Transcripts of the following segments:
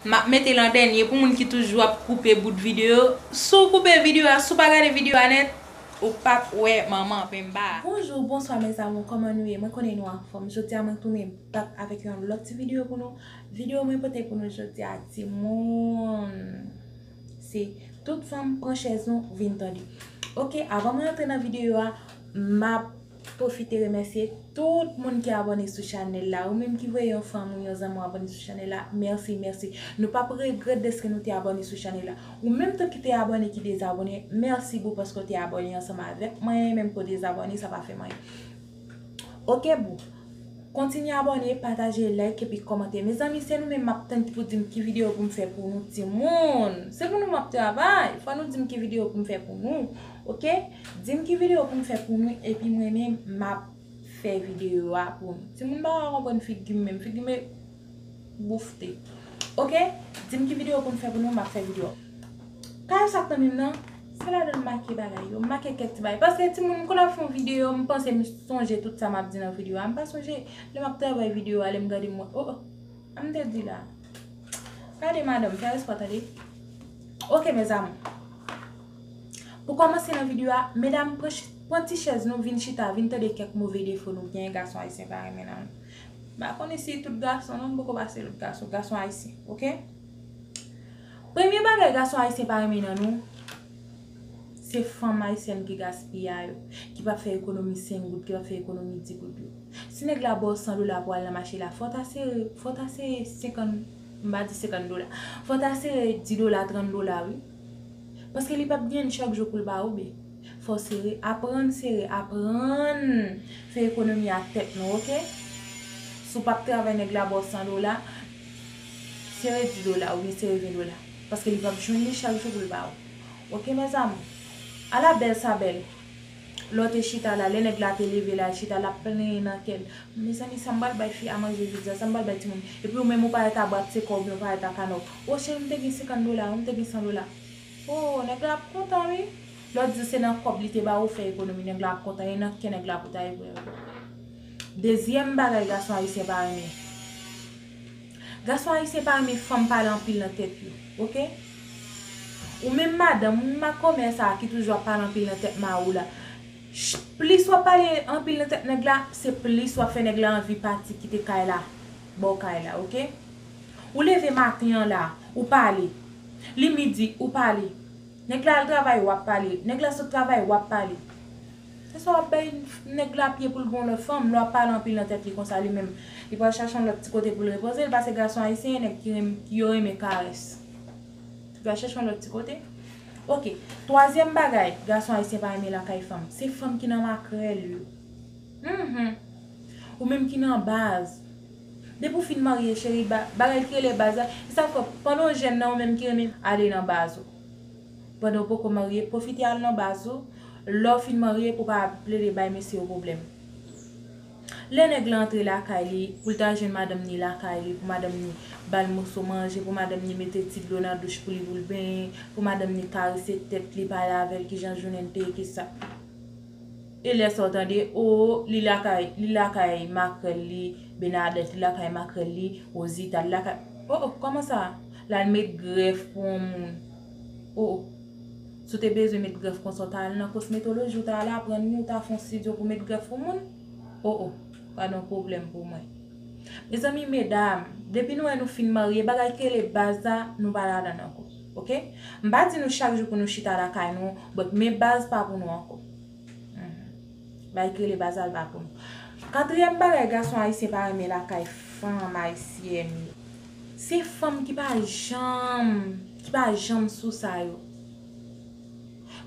Map metel an dènye pou moun ki toujou ap koupe bout video, si w koupe video a si w pa gade video a nèt ou pap wè manman penmba a. Bonjour bonswa mes amour kòman nou ye mwen konnen nou anfòm jodia mwen tounen bak avèk yon lòt ti video pou nou video mwen pote pou nou jodia timoun se tout fanm pran chèz nou vin tande ok avan mwen antre nan video a map Pwofite remèsye tout moun ki abòne sou chanèl la. Ou menm ki voye yon fanm ou yon zanmi w abòne sou chanèl la, mèsi, mèsi. Nou p ap regrèt dèske nou te abòne sou chanèl la. Ou menm tou ki te abòne ki dezabòne, mèsi boo paske w te abòne ansanm avèk mwen, menm ke w dezabòne sa pa fè m anyen. Ok boo. Kontinye abòne, pataje, like epi kòmante. Mezanmi se nou menm m ap tann pou di m ki videyo pou m fè pou nou timoun. Se pou nou m ap travay. Fò nou di m ki videyo pou m fè pou nou. Ok dim ki video poum fè pou nou epi m renmen map fè video a pou nou timoun m paka konprann figim menm figim e boufte ok dim ki video poum fè pou nou map fè video pa yo sak nan menm nan se ladann m make bagay yo m make kèk ti bagay paske timoun m konn ap fon video m panse m sonje tout sa map di nan video a m pa sonje lè map travay video a lè m gade m wè oh sa m te di la gade madanm fè respè w tande ok mes amour. Pou kòmanse nan video a, medam pran ti chèz nou vin chita vin tande kèk move defo nou genyen gason ayisyen pa renmen nan nou. Mpa konnen si tout gason non, mpoko pa se tout gason, gason ayisyen ok. Premye bagay gason ayisyen pa renmen nan nou, se fanm ayisyèn ki gaspiya yo, ki pap fè ekonomi 5 goud, ki pap fè ekonomi 10 goud yo. Si nèg la baw 100 dola pou al nan mache la, fò ta sere, fò ta sere 50, mpa di 50 dola, fò ta sere 10 dola, 30 dola wi. Paske li pap gen chak jou poul ba ou bi. Fò sere, aprann sere, aprann fè ekonomi ak tèt nou ok. Si w pap travay nèg la ba w 100 dola, sere 10 dola oubyen sere 20 dola. Paske li pap jwenn li chak jou poul ba ou. Ok mes amours. Ala bèl sa bèl. Lè w te chita la, lè nèg la te leve la, l chita, l ap plenyen nan kè l, Mezanmi, sa m pral bay fi a manje jodi a? Sa m pral bay timoun? Epi ou menm ou parèt a brakte kò w oubyen ou parèt a kanè w, O cheri, m te gen senkann dola, o m te gen san dola. O, nèg la ap kontan wi! Lè w di l se nan kòb li te ba ou fè ekonomi, nèg la ap kontan, e nan kè nèg la pou ta evre l. Dezyèm bagay gason ayisyen pa renmen. Gason ayisyen pa renmen fanm pale anpil nan tèt yo ok ou menm madanm ou menm makomè sa ki toujou ap pale anpil nan tèt mari w la plis wap pale anpil nan tèt nèg la se plis wap fè nèg la anvi pati kite kay la baw kay la ok ou leve maten an la ou pale li midi ou pale nèg la al travay wap pale nèg la sot travay wap pale. Se sa wap bay nèg la pye poul pran yon lòt fanm, lè wap pale anpil nan tèt li konsa li menm li pral chache yon lòt ti kote poul repoze l pase gason ayisyen gen nèg ki renmen yo renmen karès li pral chache yon lòt ti kote ok twazyèm bagay gason ayisyen pa renmen lakay fanm se fanm ki nan makrèl yo humm ou menm ki nan baz depi ou fin marye cheri bagay ki rele baz la se sa k fè pandan w jèn nan ou menm ki renmen ale nan baz ou. pandan ou poko marye pwofite al nan baz ou lè ou fin marye pou pa ap plede bay mesye yo pwoblèm lè nèg lan antre lakay li pou l ta jwenn madanm ni lakay li pou madanm ni ba l moso manje pou madanm ni mete ti dlo nan douch pou li pou l benyen pou madanm ni karese tèt li pale avè l kijan jounen l te ye ki sa e lè sa ou tande oo li lakay li lakay makrèl li Benadèt li lakay makrèl li Rozita li lakay oo kòman sa l al met grèf pou on moun. O! Si w te bezwen met grèf konsa w ta al nan kosmetoloji w ta al aprann ni w ta fè yon stidyo pou met grèf pou moun? O o! Pa nan pwoblèm pou mwen. Mezanmi medam, depi nou wè nou fin marye bagay ki rele baz la nou pa ladann ankò. Ok? M pa di nou chak jou pou nou chita lakay nou but men baz pa pou nou ankò. Hum. Bay kele bazal pa konn. Katriyèm bagay gason ayisyen pa renmen lakay fanm ayisyèn yo. Se fanm ki pa janm, ki pa janm sou sa yo.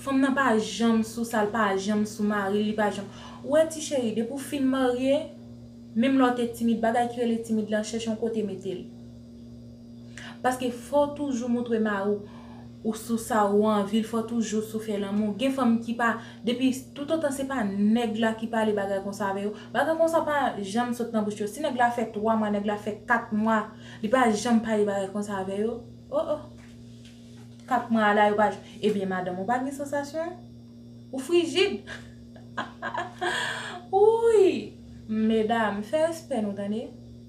Fanm nan pa janm sou sa l, pa janm sou mari l, li pa janm. Ou wè ti cheri, depi w fin marye, menm lè w te timid, bagay ki rele timid lan, chèche yon kote mete l. Paske fò w toujou montre mari w ou sou sa ou anvi l, fò w toujou sou fè lanmou. Gen fanm ki pa, depi, toutotan se pa nèg la ki pale bagay konsa avè yo, bagay konsa pa janm sot nan bouch yo. Si nèg la fè 3 mwa, nèg la fè 4 mwa, li pa janm pale bagay konsa avè yo, o o! 4 mwa a la yo pa janm, ebyen madanm ou pa gen sansasyon? Ou frijid? Wouyy! Medam, fè respè nou tande!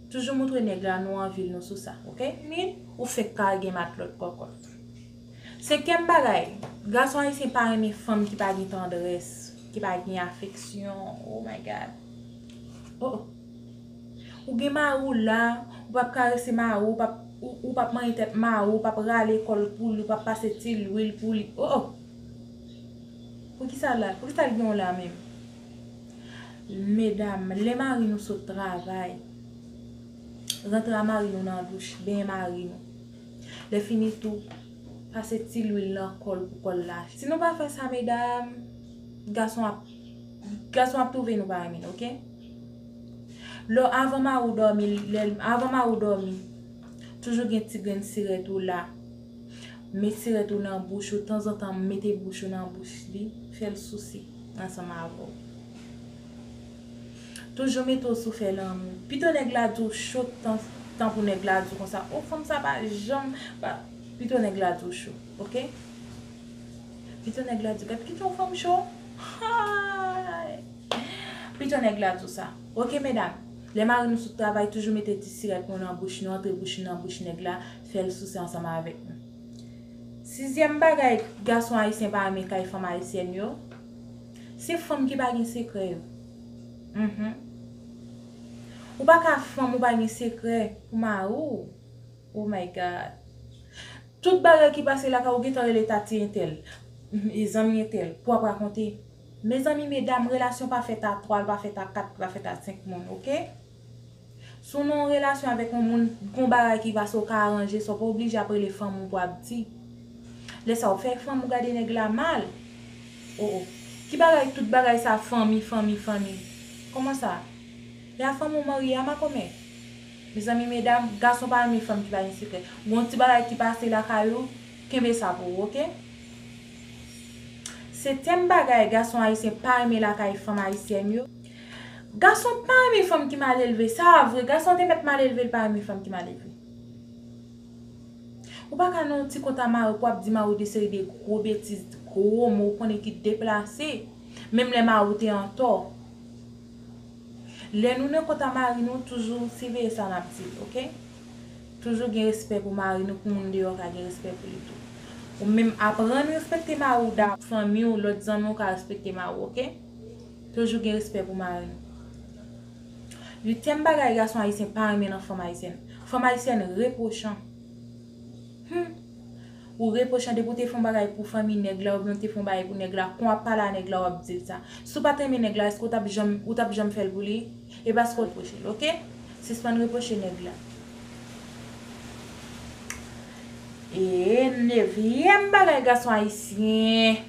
Toujou moutre nèg la nou anvil nou sou sa ok. Min ou fek pa gen matlot kokot. Se kèm bagay, gason ayisyen pa renmen fanm ki pa gen tandrès, ki pa gen afeksyon oh my God oh oh Ou gen mari w la, ou pap karese mari w, ou pap manyen tèt mari w, ou pap rale kò l pou li, ou pap pase ti lwil pou li oh oh Poukisa l la, poukisa l gen w la menm? Medam, lè mari nou sot travay, rantre a mari nou nan douch, benyen mari nou. Lè fini tou, pase ti lwil nan kò l pou kò l la. Si nou pa fè sa medam, gason ap gason ap twouve nou pa renmen l ok. Lò avan mari w dòmi, lè avan mari w dòmi, toujou gen ti grenn sirèt ou la. Met sirèt ou nan bouch ou tanzantan mete bouch ou nan bouch li, fèl souse ansanm avè w. Toujou mete w sou fè lanmou. Pito nèg la di w cho tan pou nèg la di w konsa oh fanm sa pa janm pa pito nèg la di w cho ok. Pito nèg la di w gad kijan yon fanm cho haayy pito nèg la di w sa ok medam lè mari nou sot travay toujou mete ti sirèt nou nan bouch nou antre bouch nou nan bouch nèg la fè l souse ansanm avèk nou. Sizyèm bagay gason ayisyen pa renmen kay fanm ayisyèn yo, se fanm ki pa gen sekrè yo. Mph. Ou pa ka fanm ou pa gen sekrè pou mari w. Oh my God! Tout bagay ki pase lakay ou gentan rele tati entèl, mph, zanmi entèl pou w ap rakonte. Mezanmi medam relasyon pa fèt a 3, l pa fèt a 4, li pa fèt a 5 moun ok. Si w nan yon relasyon avèk yon moun, gen yon bagay ki pase ou ka aranje sa, ou pa oblije ap rele fanm ou pou ap di. Lè sa ou fè fanm ou gade nèg la mal. Oh oh. Ki bagay tout bagay sa fanmi fanmi fanmi. Kòman sa? E a fanm ou marye a makomè? Mezanmi medam, gason pa renmen fanm ki pa gen sekrè. Gen yon ti bagay ki pase lakay ou, kenbe sa pou ou ok. Se tèm bagay gason ayisyen pa renmen lakay fanm ayisyèn yo. Gason pa renmen fanm ki malelve sa a vre gason te mèt malelve li pa renmen fanm ki malelve ou pa ka nan yon ti kont a mariw pou wap di mariw de seri de gwo betiz gwo mo ou konnen ki deplase menm lè mariw te antò lè nou nan kont a mari nou toujou siveye sa nap di ok toujou gen respè pou mari nou pou moun deyò ka gen respè pou li tou ou menm aprann respekte mariw da fanmiw lòt zanmiw ka respekte mariw ok. Toujou gen respè pou mari. Uityèm bagay gason ayisyen pa renmen nan fanm ayisyèn. Fanm ayisyèn repwochan. Humm! Ou repwochan depi ou te fon bagay pou fanmi nèg la oubyen ou te fon bagay pou nèg la, kon wap pale a nèg la wap dil sa. Si w pat renmen nèg la eske ou tap janm ou tap janm fèl pou li? E paske w repwoche l ok? Sispann repwoche nèg la. Eee nevyèm bagay gason ayisyen.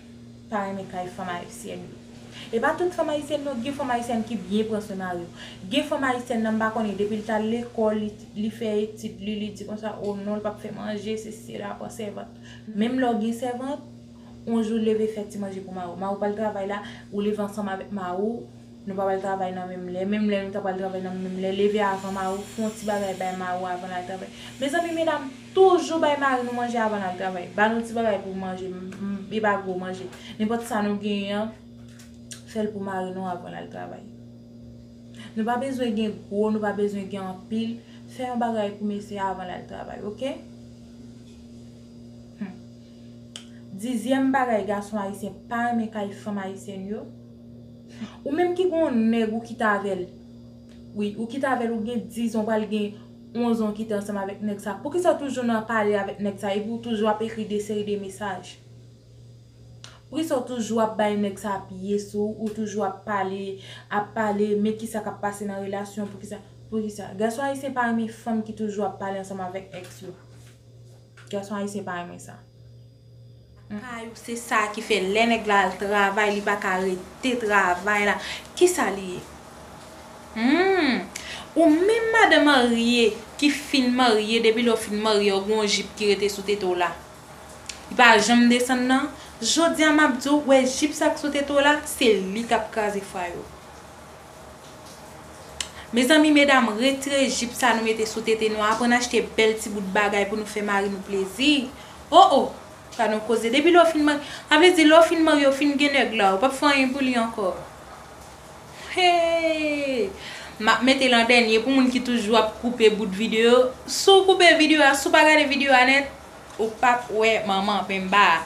pa renmen kay fanm ayisyèn yo epa tout fanm ayisyèn non gen fanm ayisyèn ki byen pran swen mari yo gen fanm ayisyèn nan m pa konnen depil tal lekòl li fè etid li li di konsa oh non li pap fè manje sesi sela pran sèvant menm lèw gen sèvant yon jou leve fè ti manje pou mariw mariw pral travay la ou leve ansanm avèk mariw Nou pa pral travay nan menm lè. Menm lè nou ta pral travay nan menm lè. Leve avan mari w, fon ti bagay bay mari w avan l al travay. Mezanmi medam, toujou bay mari nou manje avan l al travay. Ba nou ti bagay pou manje, e pa gwo manje. Nenpòt sa nou genyen an, fè l pou mari nou avan l al travay. Nou pa bezwen gen gwo, nou pa bezwen gen anpil, fè yon bagay pou mesye a avan l al travay ok. Hum. Dizyèm bagay gason ayisyen pa renmen kay fanm ayisyèn yo. Ou menm ki gen yon nèg ou kite avèl wi ou kite avèl ou gen 10 zan ou pral gen 11 zan ou kite ansanm avèk nèg sa poukisa ou toujou nan pale avèk nèg sa epi ou toujou ap ekri de seri de mesaj poukisa ou toujou ap bay nèg sa pye sou ou toujou ap pale ap pale men kisa kap pase nan relasyon poukisa poukisa gason ayisyen pa renmen fanm ki toujou ap pale ansanm avèk èks yo. Gason ayisyen pa renmen sa. Lakay ou se sa ki fè lè nèg la al travay li pa ka rete travay la kisa li ye humm ou menm madan marye ki fin marye depi lè ou fin marye ou gen yon jip ki rete sou tete w la li pa janm desann nan jodi a map di w wè jip sa k sou tete w la se li kap kraze fwa yo Mezanmi medam retre jip sa nou mete sou tete nou aprann achte bèl ti bout bagay pou nou fè mari nou plezi oh oh pa nou koze depi lè w fin marye sa vle di lè w fin marye w fin gen nèg la ou pap fè anyen pou li ankò hee map mete l an dènye pou moun ki toujou ap koupe bout video si w koupe video a si w pa gade video a nèt ou pap wè manman penmba a.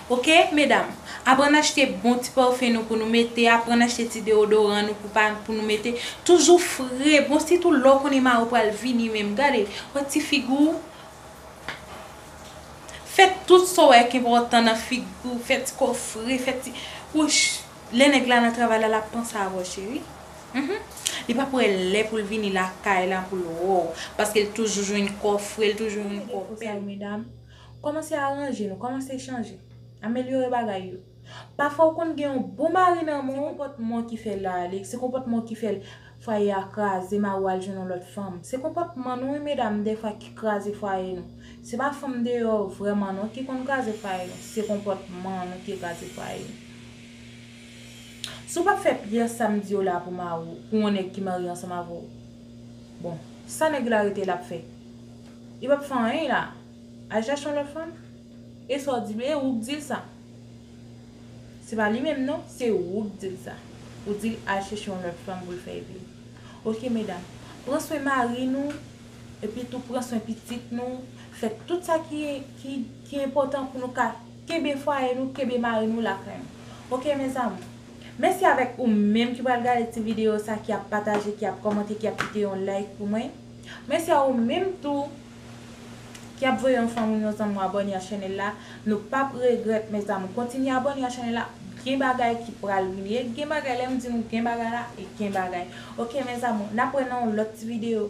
Ok medam aprann achte bon ti parfum nou pou nou mete aprann achte ti deodoran nou pou pa pou nou mete toujou fre bon sitou lè w konnen mari w pral vini menm gade wè ti figi w fè tout sa w wè k enpòtan nan figi w fè ti kò w fre fè ti wouch lè nèg la nan travay la lap panse avè w cheri humm li pap wè lè pou l vini lakay la pou l wè w paske l toujou jwenn kò w fre l toujou jwenn kò w bèl. Kòmanse aranje nou, kòmanse chanje. Amelyore bagay yo. Pafwa ou konn gen yon bon mari nan men w. Se konpòtman w ki fè l la ale, se konpòtman w ki fè l fwaye a kraze, mari w al jwenn yon lòt fanm. Se konpòtman nou wi medam dèfwa ki kraze fwaye nou. Se pa fanm deyò vrèman non ki konn kraze fwaye nou, se konpòtman nou ki kraze fwaye nou. Si w pa p fè pyès sa m di yo la pou mari w, pou yon nèg ki marye ansanm avè w, bon, sa nèg la rete la p fè? Li pap fè anyen la. Al chache yon lòt fanm? E sa w di l e ou k di l sa. Se pa li menm non, se ou k di l sa. Ou di l al chèche yon lòt fanm pou l fè vi. Ok medam, pran swen mari nou, epi tou pran swen pitit nou, fè tout sa ki enpòtan pou nou ka kenbe fwaye nou, kenbe mari nou lakay nou. Ok mes amours. Mèsi avèk ou menm ki pral gade ti videyo sa, ki ap pataje, ki ap kòmante, ki ap kite yon like pou mwen. Mèsi a ou menm tou ki ap voye anfamil nou zanmi mwen abòne a chanel la nou pap regrèt mes amour kontinye abòne a chanel la gen bagay ki pral vini e gen bagay lèm di nou gen bagay la e gen bagay ok mes amour nap wè nan yon lòt ti video.